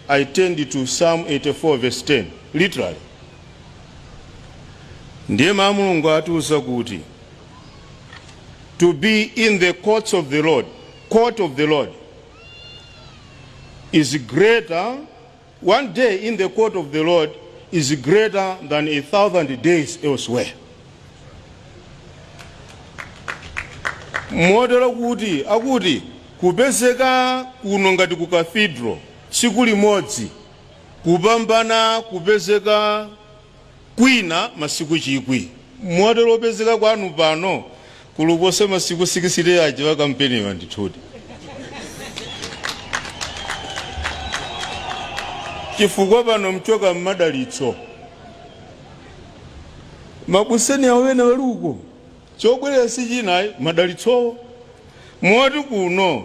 I turned to Psalm 84 verse 10 literally ndiye mawu a mulungu atiuza kuti to be in the court of the lord court of the lord is greater one day in the court of the lord is greater than a thousand days elsewhere motero kuti akuti Kupezeka kuno ngati ku Cathedral tsiku limodzi kupambana kupezeka kwina masiku chikwi. Motero kupezeka kwanu pano kuli kuposa masiku 60 aja a kampeniwa. Ndithudi, chifukwa pano mchoka m'madalitso. Mabuseni awo ena ali uko, chobwerera si china ayi, madalitsowo. Moti kuno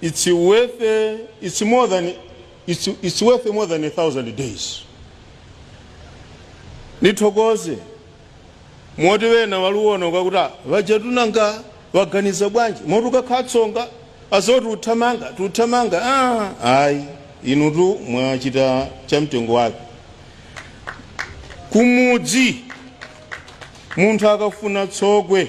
it's worth it's more than it's, it's worth more than a thousand days. Nithokoze moti wena waluona ukakuti vajatunanga waganiza bwanji moti kukakhala tsonga azoti uthamanga tuthamanga ah, ayi inutu mwachita cha mtengo wake kumudzi munthu akafuna tsogwe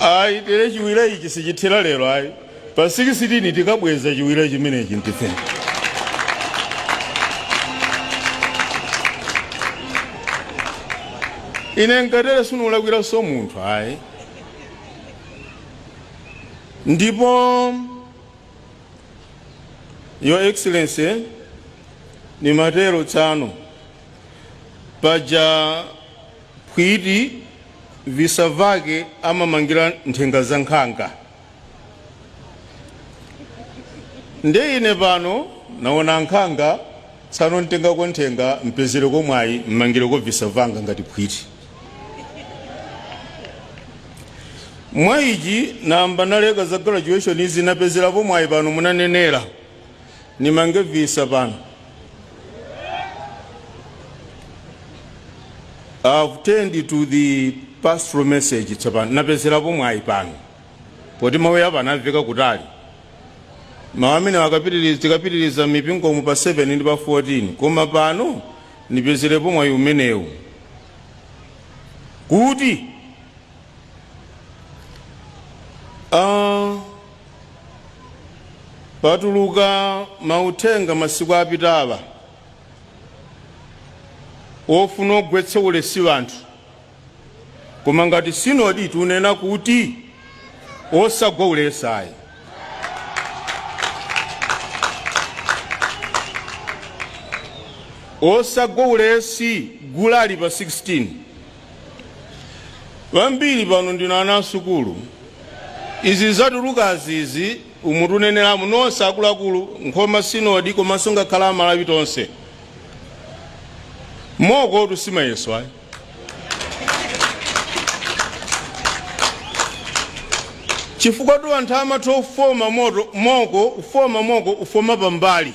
ayi tere chiwira ichi sichithera lero ayi pa 16 tikabweza chiwira chimenechi ndife ine nkatere sinilakwiranso munthu ayi ndipo your excellency ni matero tsano Paja phwiti visa vake amamangira nthenga za nkhanga. Nde ine pano naona nkhanga tsano ntengako nthenga mpezereko mwayi mmangireko visa vanga ngati phwiti. Mwa ichi nayamba naleka za graduation izi napezerapo mwayi pano munanenera. nimange visa pano I've turned to the pastoral message tsopano napezerapo mwayi pano poti mawu apa amamveka kutali mawu amenewa tikapitiriza mipingo mu pa 7 ndi pa 14 koma pano nipezerepo mwayi umenewu kuti ah, Patuluka mauthenga masiku apitawa ofuna ogwetsa ulesi anthu koma ngati sinodi tunena kuti osagwa ulesi ayi osagwa ulesi gule ali pa 16 Ambiri pano ndinu ana asukulu. Izi zatulukazi izi umu tunenera muno nonse akuluakulu Nkhoma Synod komanso ngakhale Amalawi tonse. Mokotu si mayeso ayi. Chifukwa tu anthu amatha ufoma moko ufoma moko ufoma pambali.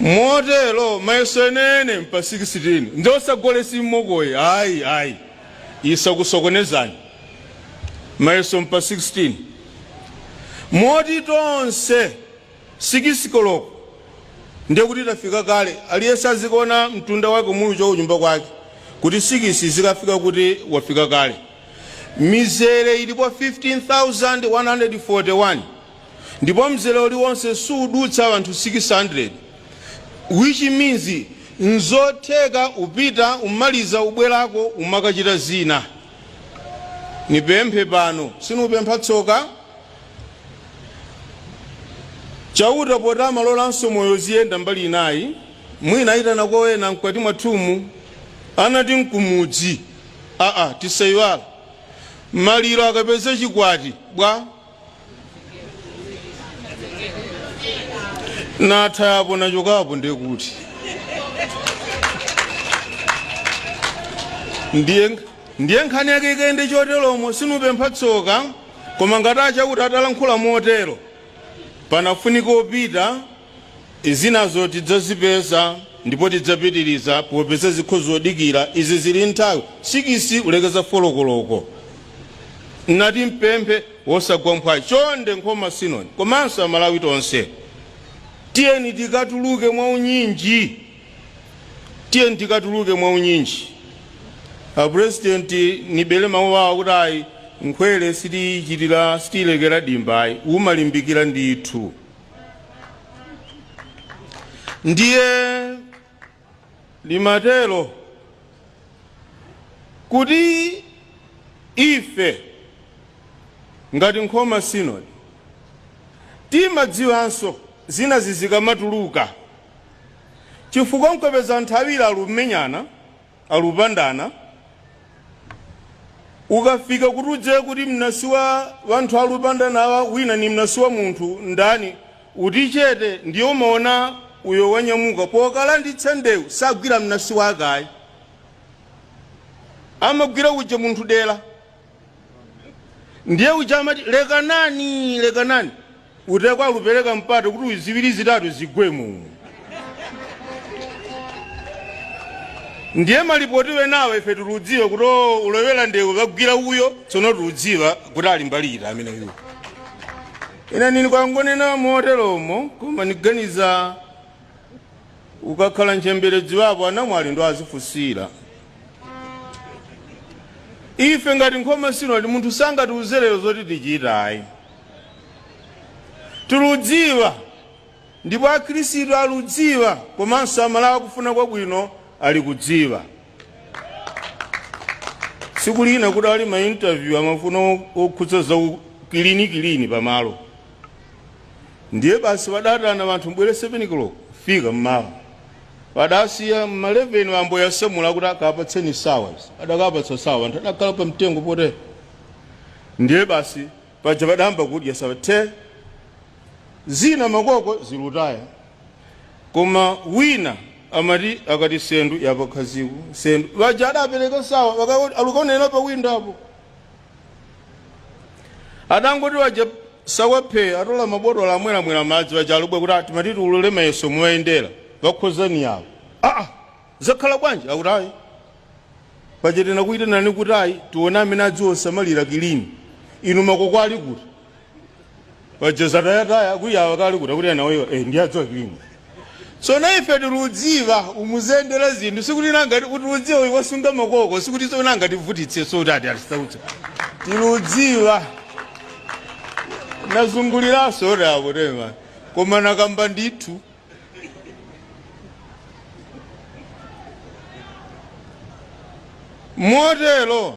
Motero mayeso enene mpa 16 ndi osagwa ulesi m'moko ayi ayi ayi isakusokonezeni mayeso mpa 16 moti tonse sikisi koloko ndiye kuti tafika kale aliyense azikaona mtunda wake momwe uchoka kunyumba kwake kuti sikisi izikafika kuti wafika kale mizere ilipo 15141 ndipo mzere uliwonse suudutsa anthu 600 which means nzotheka upita umaliza ubwerako umakachita zina nipemphe pano sinupempha tsoka chauta poti amalolanso moyo ziyenda mbali ina ayi mwina ayitanako ena mkwati mwathumu anati nkumudzi aa tisayiwala maliro akapeze chikwati bwa natha apo nachoka apo ndiye kuti ndiye nkhani yake ikayende choteromo sinupempha tsoka koma ngati a Chauta atalankhula motero panafunika opita Zinazo tidzazipeza ndipo tidzapitiliza popeza zinthu zodikira izi zili nthawi sikisi kulekeza folo koloko. Nati ndipemphe osagwa mphwayi chonde Nkhoma Synod komanso Amalawi tonse tiyeni tikatuluke mwa unyinji tiyeni tikatuluke mwa unyinji. A president nibele mawu awo kuti ayi nkhwele sitiyichitira sitiyilekera dimba ayi umalimbikira ndithu. ndiye limatero kuti ife ngati nkhoma sinodi timadziwanso zina zi zikamatuluka chifukwa nkupeza nthawi lalumenyana alupandana, ukafika kuti udziwe kuti mnasi wa wanthu alupandanawa wina ni mnasi wa munthu ndani, uti chete ndiye umaona uyo wanyamuka pokalanditsa ndewu sagwira mnasi wake ayi amagwira uja munthu dera ndiye uja amati lekanani lekanani uteko akupereka mpata kuti ziwiri zitatu zigwemo ndiye malipoti wenawo ife tiludziwa kuti o, ulowera ndewu wagwira uyo tsono tiludziwa kuti ali mbali iti amene uyo ina nini kwangonena moteromo koma niganiza ukakhala ntchembere dziwapo anamwali ndo azifunsira ife ngati Nkhoma Sinodi munthu sangatiuze lero zoti tichita ayi tiludziwa ndipo akhristu aludziwa komanso Amalawi akufuna kwabwino ali kudziwa tsiku lina kudali ma interview amafuna okhudza za ukilini kilini pamalo Ndiye basi wadaitana wanthu mubwere 7 koloko kufika mmawa. Wadasiya mma 11 wambo yasamula akuti akapatseni sawa izi. Adakapatsa sawa wanthu adakhala pamtengo potere. Ndiye basi paja wadayamba kudya sawa the. Zina makoko zilutaya. Koma wina amati akati sendu yapakhaziku sendu. Waja adapereka sawa bakakoti alukaonera pa window apo. adangoti waja sawa phee atola mabotolo amweramwera madzi waja alubwe kuti timati tiulule mayeso muwayendera wakhoza ni awo aa zakhala bwanji akuti ayi paja tinakuyitanani kuti ayi tione amene adziwosamalira kilini inu makoko ali kuti paja zatayataya kuyawa kali kuda kuti anawoyo eh, ndi adziwa kilini tsono ife tiludziwa umuzendera zinthu sikuti nangati tiludziwa uyu wasunga makoko sikuti tsono angativutitse so kuti ati alisautsa tiludziwa nazunguliranso oti akutema koma nakamba ndithu motero